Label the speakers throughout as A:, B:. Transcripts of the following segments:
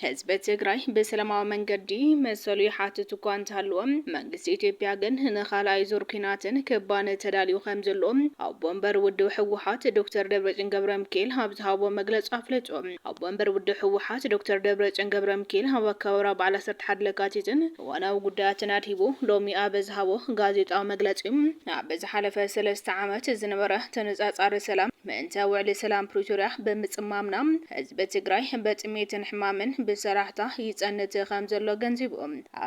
A: ህዝቢ ትግራይ ብሰላማዊ መንገዲ መሰሉ ይሓትት እኳ እንተሃለወ መንግስቲ ኢትዮጵያ ግን ንካልኣይ ዙር ኩናትን ክባነ ተዳልዩ ከም ዘሎ ኣቦ ወንበር ውድብ ህወሓት ዶክተር ደብረፅዮን ገብረ ሚካኤል ኣብ ዝሃቦ መግለፂ ኣፍለጡ። ኣቦ ወንበር ውድብ ህወሓት ዶክተር ደብረፅዮን ገብረምኪኤል ኣብ ኣከባብራ በዓል ዓሰርተ ሓደ ለካቲትን እዋናዊ ጉዳያትን ኣድሂቡ ሎሚ ኣብ ዝሃቦ ጋዜጣዊ መግለፂ ኣብ ዝሓለፈ ሰለስተ ዓመት ዝነበረ ተነፃፃሪ ሰላም ምእንተ ውዕሊ ሰላም ፕሪቶርያ ብምፅማምና ህዝቢ ትግራይ በጥሜትን ሕማምን ብሰራሕታ ይፀንት ከምዘሎ ኣገንዚቡ።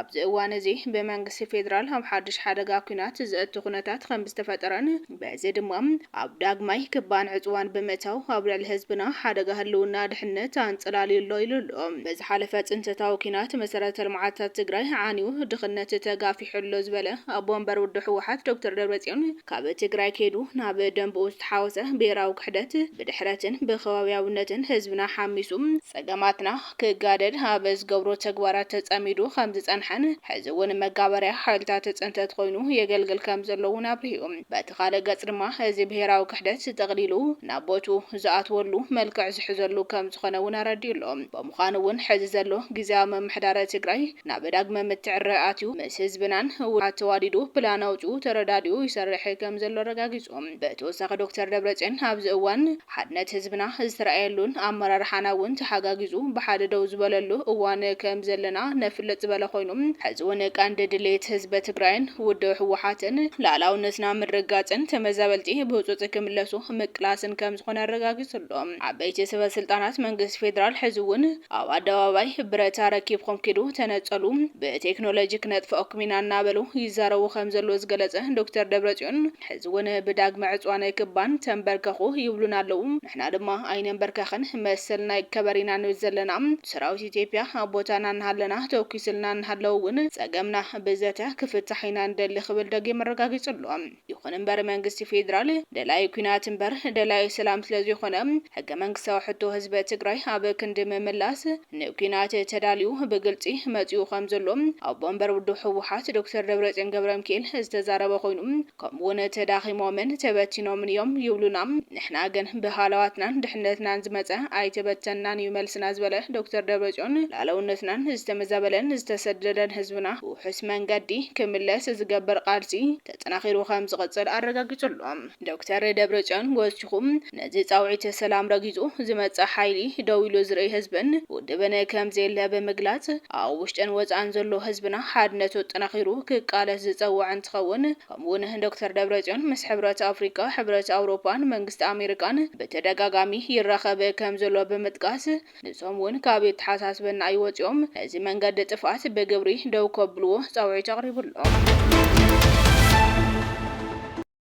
A: ኣብዚ እዋን እዚ ብመንግስቲ ፌዴራል ኣብ ሓዱሽ ሓደጋ ኲናት ዘእቱ ኩነታት ከምዝተፈጠረን በዚ ድማ ኣብ ዳግማይ ክባን ዕጽዋን ብምእታው ኣብ ልዕሊ ህዝብና ሓደጋ ህልውና ድሕነት ኣንጸላልዩ ኣሎ ኢሉ ኣሎ። ብዝሓለፈ ጽንተታዊ ኲናት መሰረተ ልምዓታት ትግራይ ዓንዩ፣ ድኽነት ተጋፊሑ ኣሎ ዝበለ ኣቦ ወንበር ውድብ ህወሓት ዶክተር ደብረጽዮን ካብ ትግራይ ከይዱ ናብ ደምበኡ ዝተሓወሰ ብሄራዊ ክሕደት፣ ብድሕረትን ብከባብያውነትን ህዝብና ሓሚሱ ጸገማትና ክጋደድ ኣብ ዝገብሮ ተግባራት ተጸሚዱ ከም ዝጸንሐን ሕዚ እውን መጋበርያ ሓይልታት ጽንተት ኮይኑ የገልግል ከም ዘሎ እውን ኣብሪሁ። በቲ ካልእ ገጽ ድማ እዚ ብሄራዊ ክሕደት ጠቕሊሉ ናብ ቦትኡ ዝኣትወሉ መልክዕ ዝሕዘሉ ከም ዝኾነ እውን ኣረዲኡ ኣሎ። ብምዃኑ እውን ሕዚ ዘሎ ግዝያዊ ምምሕዳረ ትግራይ ናብ ዳግመ ምትዕርራይ ኣትዩ ምስ ህዝብናን ውድባት ተዋዲዱ ፕላን ኣውጺኡ ተረዳዲኡ ይሰርሕ ከም ዘሎ ኣረጋጊጹ። ብተወሳኺ ዶክተር ደብረጽዮን ኣብዚ እዋን ሓድነት ህዝብና ዝተርኣየሉን ኣመራርሓና እውን ተሓጋጊዙ ብሓደ ደው ዝበለሉ እዋን ከም ዘለና ነፍልጥ ዝበለ ኮይኑ ሕዚ እውን ቀንዲ ድሌት ህዝበ ትግራይን ውድብ ህወሓትን ልኣላውነትና ምርግጋፅን ተመዛበልቲ ብህፁፅ ክምለሱ ምቅላስን ከም ዝኾነ ኣረጋጊፁ ኣሎ። ዓበይቲ ሰበ ስልጣናት መንግስቲ ፌደራል ሕዚ እውን ኣብ ኣደባባይ ብረት ኣረኪብኹም ኪዱ ተነፀሉ ብቴክኖሎጂ ክነጥፈኣኩም ኢና እናበሉ ይዛረቡ ከም ዘለዉ ዝገለፀ ዶክተር ደብረፅዮን ሕዚ ውን ብዳግመ ዕጽዋና ይክባን ተንበርከኹ ይብሉና ኣለዉ ንሕና ድማ ኣይነንበርከኽን መሰልና ይከበር ኢና ንብል ዘለና ሰራዊት ኢትዮጵያ ኣብ ቦታና እናሃለና ተኩስልና እናሃለወ ውን ጸገምና ብዘተ ክፍታሕ ኢና ንደሊ ክብል ደጊም ኣረጋጊጹ ኣሎ ይኹን እምበር መንግስቲ ፌድራል ደላይ ኩናት እምበር ደላይ ሰላም ስለዘይኾነ ሕገ መንግስታዊ ሕቶ ህዝበ ትግራይ ኣብ ክንዲ ምምላስ ንኲናት ተዳልዩ ብግልፂ መፂኡ ከም ዘሎ ኣቦ ወንበር ውድብ ህወሓት ዶክተር ደብረፅዮን ገብረምኪኤል ዝተዛረበ ኮይኑ ከምኡ እውን ተዳኺሞምን ተበቲኖምን እዮም ይብሉና ንሕና ግን ብሃለዋትናን ድሕነትናን ዝመፀ ኣይተበተንናን እዩ መልስና ዝበለ ዶክተር ደብረፅዮን ላእለውነትናን ዝተመዛበለን ዝተሰደደን ህዝብና ብውሑስ መንገዲ ክምለስ ዝገበር ቓልሲ ተጠናኺሩ ከም ዝቕፅል ኣረጋጊፁ ኣሎ። ዶክተር ደብረፅዮን ጎስችኹም ነዚ ፃውዒት ሰላም ረጊፁ ዝመፅእ ሓይሊ ደው ኢሉ ዝርእይ ህዝብን ውድብን ከምዘየለ ብምግላፅ ኣብ ውሽጥን ወፃእን ዘሎ ህዝብና ሓድነቱ ኣጠናኺሩ ክቃለስ ዝፀወዐ እንትኸውን ከምኡውን ዶክተር ደብረፅዮን ምስ ሕብረት ኣፍሪካ፣ ሕብረት ኣውሮፓን መንግስቲ ኣሜሪካን ብተደጋጋሚ ይራኸብ ከምዘሎ ብምጥቃስ ንሶም እውን ካብ የተሓሳስበና ኣይወፅኦም ነዚ መንገዲ ጥፍኣት ብግብሪ ደው ከብልዎ ፃውዒት ኣቕሪቡ ኣሎ።